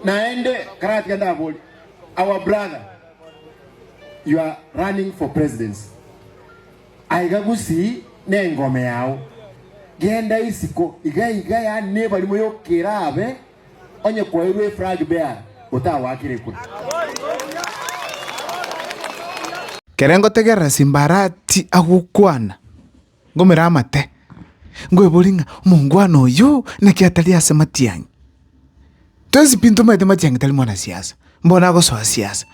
Naende karatiga ndabori our brother you are running for presidency aiga gusii nengome yao genda isiko iga iga yaani nebarimo yokerabe onye kwairwe eflag bearer otawakirekwe. Kere ngotegerera Simbarati agokwana. Ngomera amate, nkweborie ng'a omongwana oyio naki atari ase matiang'i? Tosi pi ntomaete matiang'i tari mwanasiasa, mbono agosoa siasa.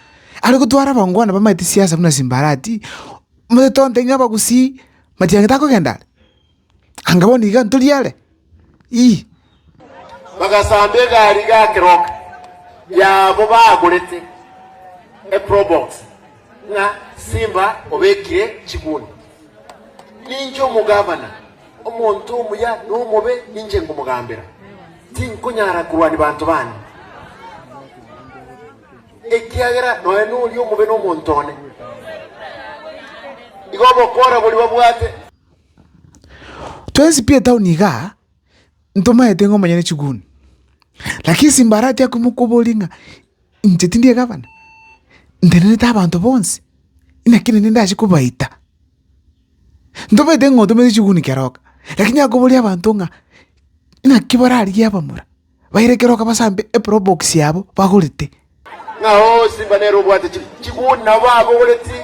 Are gotwara abangwana bamaete siasa buna simbarati, mbuya tonto inwe abagusii, matiang'i takogenda are? Anga bono iga ntori are? Ii. Bagasamba egari gakeroka yabo bagorete eprobox ng'a Simba obekire chiguni. Ninche omogavana, omonto omuya na omobe ninche ngomogambera, tinkonyara korwania banto bane, ekiagera nonya noria omobe nomonto one. Igo obokora boria babwate. Twensi pi etauni igaa, ntomaete ng'a omonyene chiguni. Lakini ase mbarache akwia mokoboria ng'a inche tindi egavana, ntenenete abanto bonsi, inaki naende ndache kobaita? Ntomaete ng'a otomete chiguni keroka, lakini akoboria abanto ng'a inaki bararigie abamura, Bairekera okabasambe eprobox yabo bagorete. Ng'ao simba nere obwate chiguni nabo abogoreti,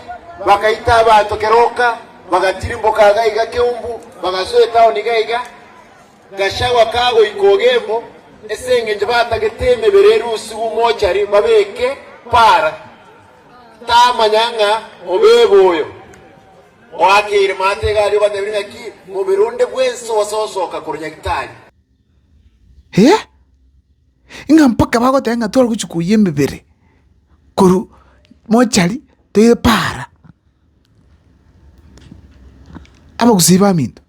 bakaita abanto kera oka, bagatirimboka iga iga keumbu, bagasoa etaoni iga iga. Gachagua kagoika Ogembo, ase engencho batagete emebere ere usigu mochari babeke para, tamanya ng'a obebe oyo oakeire maate iga aria obatebirie ng'aki mobere onde bwensi ogososoka korwa nyagitari. Hee? Ng'a mpaka bagoteba ng'a torogochia koyia emebere korwa mochari toire paara. Abagusii baminto,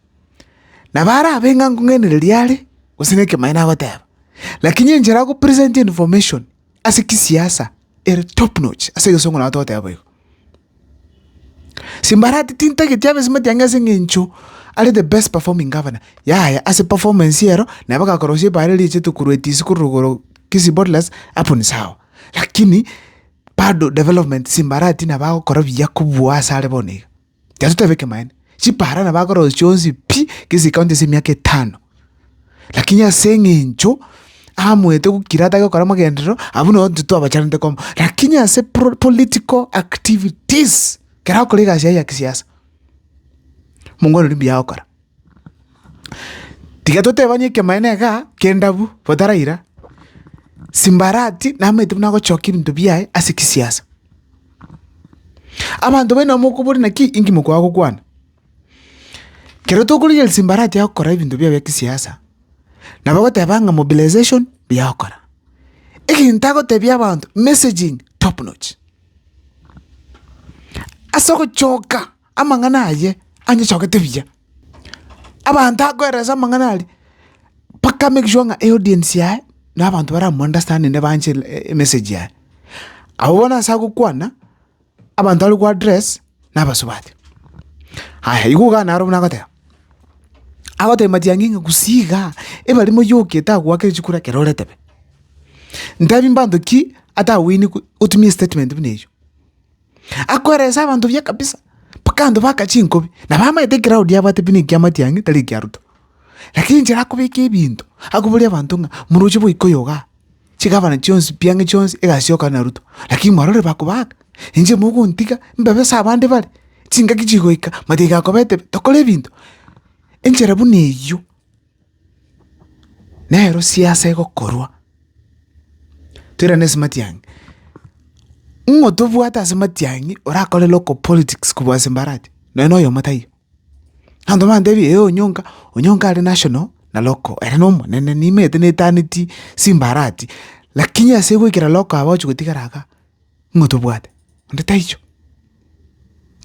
nabo arabe ng'a nkong'ainereria are gose nekemaene agoteba, lakini enchera agopresentie information. ase kisiasa ere top notch ase egesongo nago togoteba boigo. Simbarati tintageti abe esimati ang'e ase eng'encho are the best performing governor, yaya ase performance ero nabo agakorosia ebaare eria riachete korwa etiisi korwa igoro Kisii Bottlers hapo ni sawa, lakini bado development Simbarati nabo agokora buya kobua asare bono iga. Gento tebe ekemanyererio, chipara nabo akorosia chionsi pi, gese ekaunti ase emiaka etano. Lakini ase eng'encho amoete gokira atake gokora amagenderero, abwo nabo intwe twabacharete komo. Lakini ase pro- political activities, ekero akora egasi yaye ya kisiasa, mongo one rimuya agokora. Tiga totebanie ekemanera iga ki'endabu botaraira, simbarati namaete buna gochoka ebinto biaye ase kisiasa. Abanto baino mokoboria naki inki mokoa gokwana. Kero tokorigereria simbarati yago kora ebinto biaye bia kisiasa, nabo ogoteba ng'a mobilization buya okora. Egento agotebia abanto messaging top notch. Ase ogochoka. amang'ana aye anyechogete buya. Abanto akoerera ase amang'ana aria, mpaka a make sure ng'a eaudience yaye na abanto bara mo understanding na ebanche emessage yaye. Abwo bono ase agokwana, abanto are go address na abasubati. Aya igo ogana aro buna agoteba, agotebia matiang'i ng'a gusii iga, ebari moyoke tagoakire chikura ekero ore tebe. Ntebi mbanto ki atawini otumie statement buna eyio. Akoeresa abanto buya kabisa, mpaka abanto baka chinkobi. Nabo amaete ekeroud abwate buna ekiama kiang'e tari ekia Ruto. Lakini enchera akobeka ebinto, akoboria abanto ng'a moroche goika oyo igaa, chigabana chionsi pi ang'e chionsi egasioka na Ruto. Lakini mwarorire bakobaaka, inche mogontiga mbebe ase abande bare, chingaki chigoika, matiga kobetebe tokore ebinto. Enchera buna eyio. Nero siasa egokorwa, toirane ase matiang'i, ng'o tobwate ase matiang'i orakore local politics kobua ase mbarache? Nonye na oyomo taiyo. Abanto bantebie ee onyonka, onyonka are national na local, ere na omonene, nimanyete netaneti simbarati, lakini ase goikera local abagochi gotigara igaa. ng'a otobwate, onde taichwa.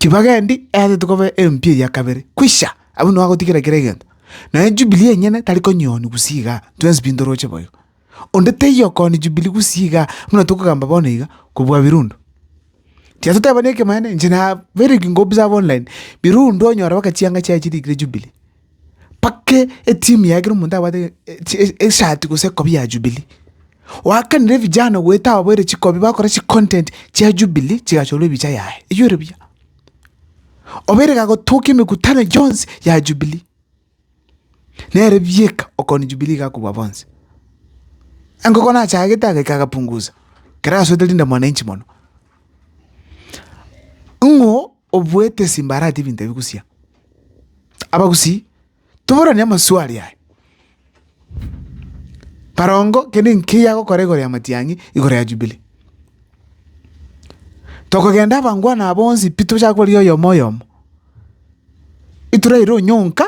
Chibaga endi eagete koba empio eya kabere, kwisha, abwo nigo agotigera kera egento. Naende Jubilee enyene tari konyioonia gusii igaa, twensi pi ntoroche boigo. Onde taiyo okoonia Jubilee gusii igaa, buna tokogamba bono iga, kobua Birundu. Tiga totebani ekemanera, inche naberekigwa obusaa online, Birundu onyora baka chianga chiaye chirikire Jubilee, Pake etimu yaye kera omonto abwate eshati gose ekobi ya Jubilee. Oakanire vijana goeta ababoire chikobi bakora chicontent chia Jubilee chigachorwa ebicha yaye. Eywo ore buya? Obeire igagotokia emekutano yonsi ya Jubilee. Nere bieka okoni Jubilee iga kobua bonsi. Engoko nachagete agaika agapunguza. Kera asoete rinde mwananchi mono. Ng'o Obwetesi mbarate ebinto ebi gusii aa. Abagusii toboranie amaswali aya. Barongo kende nkeyia gokora igoro ya matiang'i igoro ya jubilee. Tokogenda abangwana aa bonsi pi tochake kobaria oyomo oyomo. Ituraire onyonka.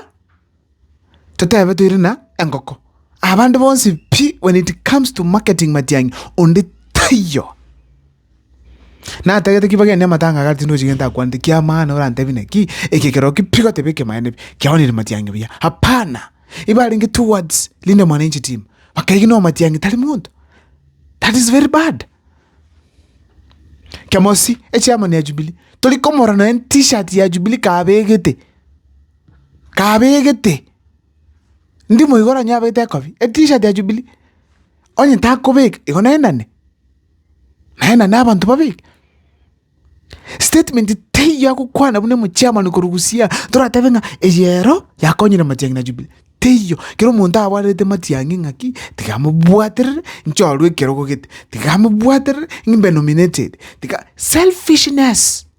Totebe toire na engoko. Abande bonsi pi when it comes to marketing matiang'i onde taiyo. Natagete ki bageni amatanga iga tindi gochia gento akwanete ki'amaana orantebi naki eke ekero ki pi goteba ekemaene pi kiaonire matiang'i buya hapana. Igo arenge towards Linda Mwananchi team bakaiga no matiang'i tari monto that is very bad. Kemosi echairman ya Jubilee tori komorora nonya T-shirt ya Jubilee kabegete. kabegete, ndi moigo oranyore abete ekobia, etishat ya Jubilee, onye takobeka igo naendane, naendane abanto babeke. Statement teiyo ya gokwana buna omochairman korwa siaya toratebe ng'a eyero yakonyire Matiang'i na Jubilee, teiyo. Kera omonto abwarerete Matiang'i ng'aki, tiga amobwaterere inche orwe ekerogo gete, tiga amobwaterere ng'imbe nominated, tiga, selfishness.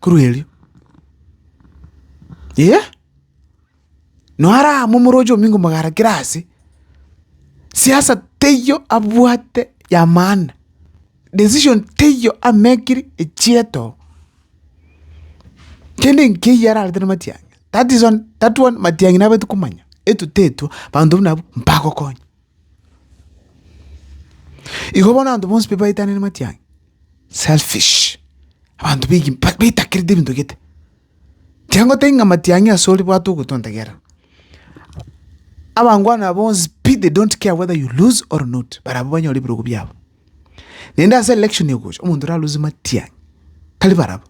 Korwa erio, ee, nore aa momoroche o Mingo mogarakere ase, siasa teiyo abwate ya maana, decision teiyo amekiri echieto. Kende nkeiyo ararete na Matiang'i, that is one, that one Matiang'i nabeti komanya, etutetwa, banto buna abwo mbagokonya. Igo bono abanto bonsi pi baitanire matiang'i, selfish, abanto baige mpa baitakerete ebinto gete. Tiangotebia ng'a matiang'i ase ore bwate ogotonta gera, abangwana aba bonsi pi they don't care whether you lose or not barabwo banyore ebirogo biabo. Naende ase election egocha, omonto oralose matiang'i tari barabwo,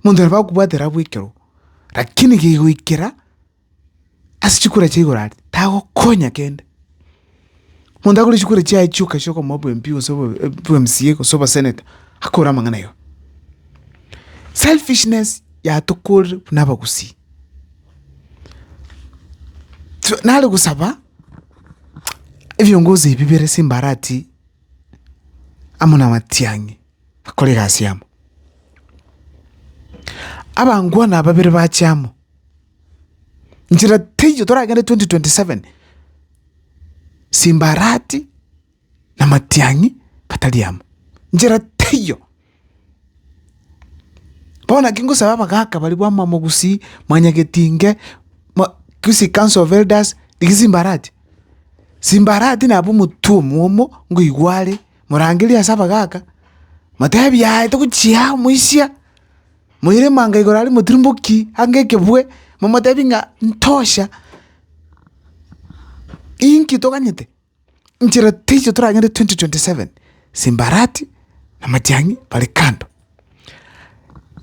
omonto nabo akobwatera abwo ekero, lakini gegoikera. ase chikura chia igoro aria, tagokonya kende. Omonto akore chikura chiaye chioka chia okomoa obo MP gose obo obo MCA gose obo Senator, akore amang'ana aye oo. Selfishness yatokorire buna abagusii. Twe nare gosaba ebiongozi ebi bire simbarati amo na matiang'i bakore egasi yabo. Abangwana babere bache amo. Nchera teiyo toragende 2027 simbarati na matiang'i atari amo, nchera teiyo. Bono naki ngosaba abagaka baria bwamwa mogusii, mwanyagetinge, mwa gisi council of elders, rigia simbarati, simbarati nabo omotwe omwomo ngoigwa are, morangerie ase abagaka, motebi yaya togochia aa omoisia. Moire manga igoro aria motirimboki ang'e ekebwe, momotebie ng'a ntosha, inki toganyete? Nchera teicho toragende 2027, Simbarati na Matiang'i bare kando.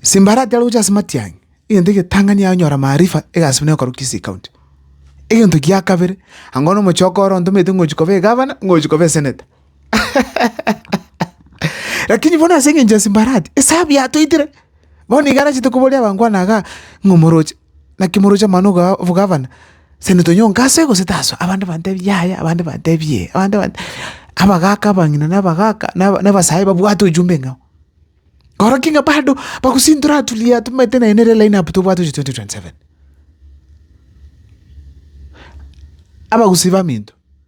Simbarati aroche ase Matiang'i, egento egetang'ani yaye onyora maarifa egasi buna ekorwa Kisii County. Egento gia kabere, ango na omochie okoro ontomete ng'ochi koba egavana, ng'ochi koba eseneta. Lakini bono ase engencho ya Sanbalati, esabu yatoitire. Bono igo arachete koboria abangwana igaa, ng'a omoroche, naki moroche amano igaa obogavana? Ase netonywa oo ngasoe gose tasoe? Abande bantebie yaya, abande bantebie ee, abande bantebie abagaka, abang'ina na abagaka, na na abasae babwate ojumbe enga oo. Oroki ng'a bado bagosintora atulia tomanyete naende nere line up tobwate gochia twenty twenty seven. Abagusii baminto.